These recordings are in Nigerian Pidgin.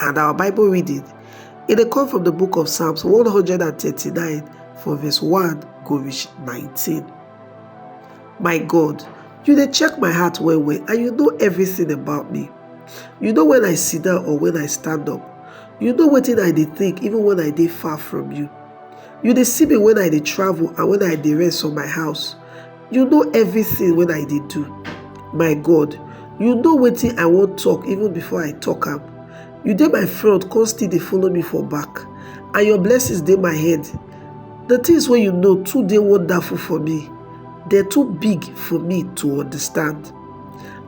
And our Bible reading, it dey come from the book of Psalms 139 from verse 1 go reach 19. My God, you dey check my heart well well and you know everything about me. You know when I sit down or when I stand up. You know wetin I dey think even when I dey far from you. You dey see me when I dey travel and when I dey rest for my house. you know everything when i dey do my god you know wetin i wan talk even before i talk am you dey my front come still dey follow me for back and your blessings dey my head the things wey you know too dey wonderful for me dem too big for me to understand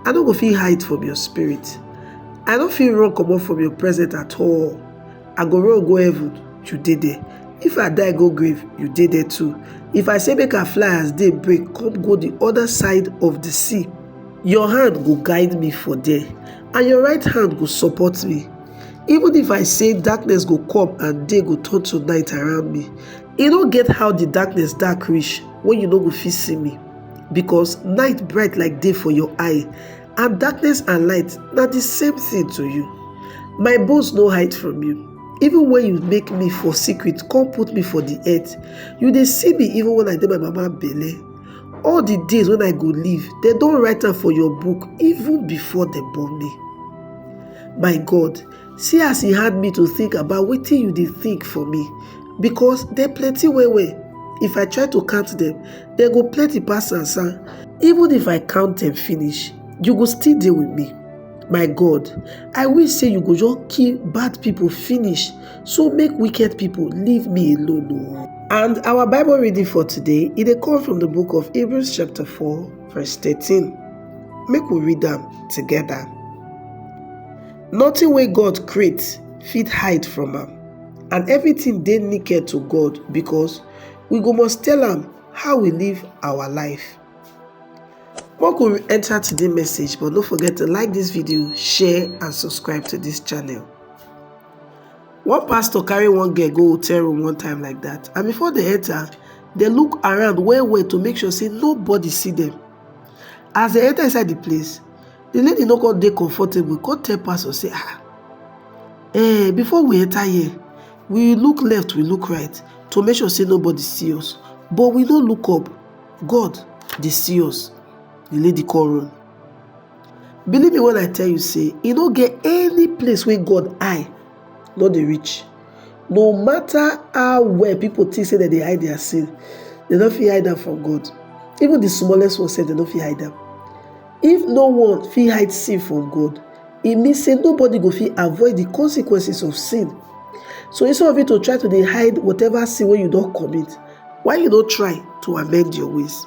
i no go fit hide from your spirit i no fit run comot from your presence at all I go run go heaven, you dey there. If I die go grave, you dey there too. If I say make I fly as day break, come go the other side of the sea. Your hand go guide me for there, and your right hand go support me. Even if I say darkness go come and day go turn to night around me, e no get how the darkness dark reach when you no go fit see me, because night bright like day for your eye, And darkness and light na the same thing to you. My bones no hide from you. Even when you make me for secret, come put me for the earth. You dey see me even when I dey my mama belle. All the days when I go live, dem don write am for your book even before dem born me. My God, See as e hard me to think about wetin you dey think for me because dem plenty well well. If I try to count dem, dem go plenty pass sansan. Even if I count dem finish, you go still dey with me. My God, I wish sey you go just kill bad pipo finish so make wicked pipo leave me alone o. And our Bible reading for today, e dey come from the book of Hebrews chapter 4 verse 13. Make we read am together. Notin wey God create fit hide from am, and evritin dey naked to God bikos we go must tell am how we live awa life. Make we re-enta today message but no forget to like dis video, share and subscribe to dis channel. One pastor carry one girl go hotel room one time like dat and bifor dem enta, dem look around well-well to make sure say nobody see dem. As dem enter inside the place, the lady no come dey comfortable, come tell pastor say, ah, eh, before we enter here, we look left, we look right to make sure say nobody see us, but we no look up. God dey see us. The lady come run. Believe me when I tell you say e no get any place wey God eye no dey reach. No matter how well people think say dem dey hide their sin, dem no fit hide am from God. Even the smallest one sef dem no fit hide am. If no one fit hide sin from God, e mean say nobody go fit avoid the consequences of sin. So instead of you to try to dey hide whatever sin wey you don commit, why you no try to amend your ways?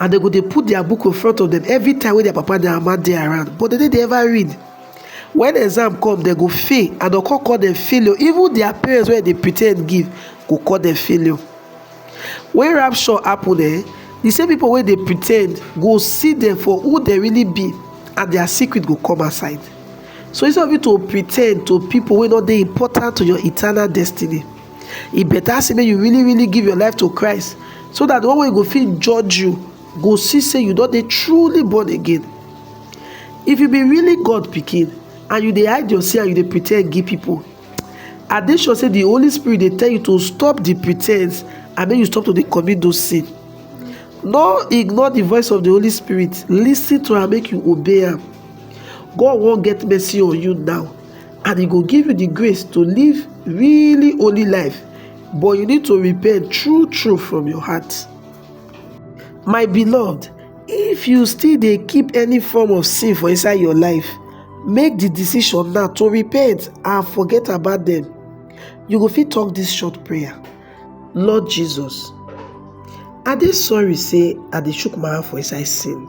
and dem go dey put their book in front of them every time wey their papa and their mama dey around but dem no dey ever read when exam come dem go fail and dem come call dem failure even their parents wey dey pretend give go call dem failure when rapture happen eh the same people wey dey pretend go see them for who they really be and their secret go come aside so instead of you to pretend to people wey no dey important to your eternal destiny e better say make you really really give your life to christ so that the one wey go fit judge you go see say you don dey truly born again if you be really god pikin and you dey hide your sin and you dey pretend give people i dey sure say the holy spirit dey tell you to stop the pretense and make you stop to dey commit those sin no ignore the voice of the holy spirit listen to am make you obey am god wan get mercy on you now and e go give you the grace to live really holy life but you need to repent true true from your heart my beloved if you still dey keep any form of sin for inside your life make the decision now to repent and forget about them you go fit talk this short prayer Lord Jesus, I dey sorry say I dey chook my hand for inside sin.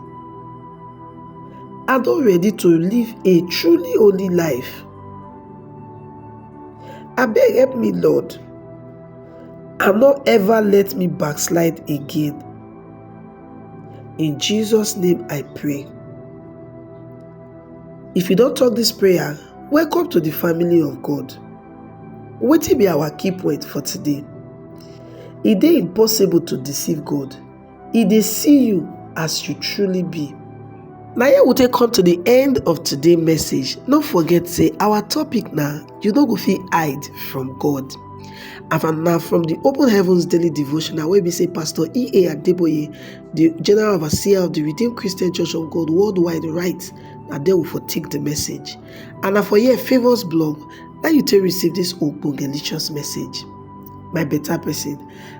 I don ready to live a truly holy life. Abeg help me Lord and no ever let me backslide again. In Jesus name I pray. If you don talk this prayer, welcome to the family of God. Wetin be our key point for today? E dey impossible to deceive God. E dey see you as you truly be. Na here we take come to the end of today message. No forget say our topic na you no go fit hide from God. And na from the Open Heavens Daily Devotional wey be say Pastor E.A. Adeboye, the General Overseer of the Redeemed Christian Church of God Worldwide write, na there we for take the message. And na for here Favours Blog Now you take receive this ogbongelicious message my better person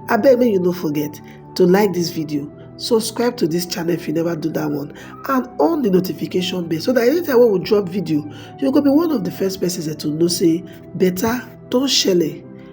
abeg make you no forget to like this video subscribe to this channel if you never do that one and on the notification bell so that anytime wey we drop video you go be one of the first persons to know say better don shele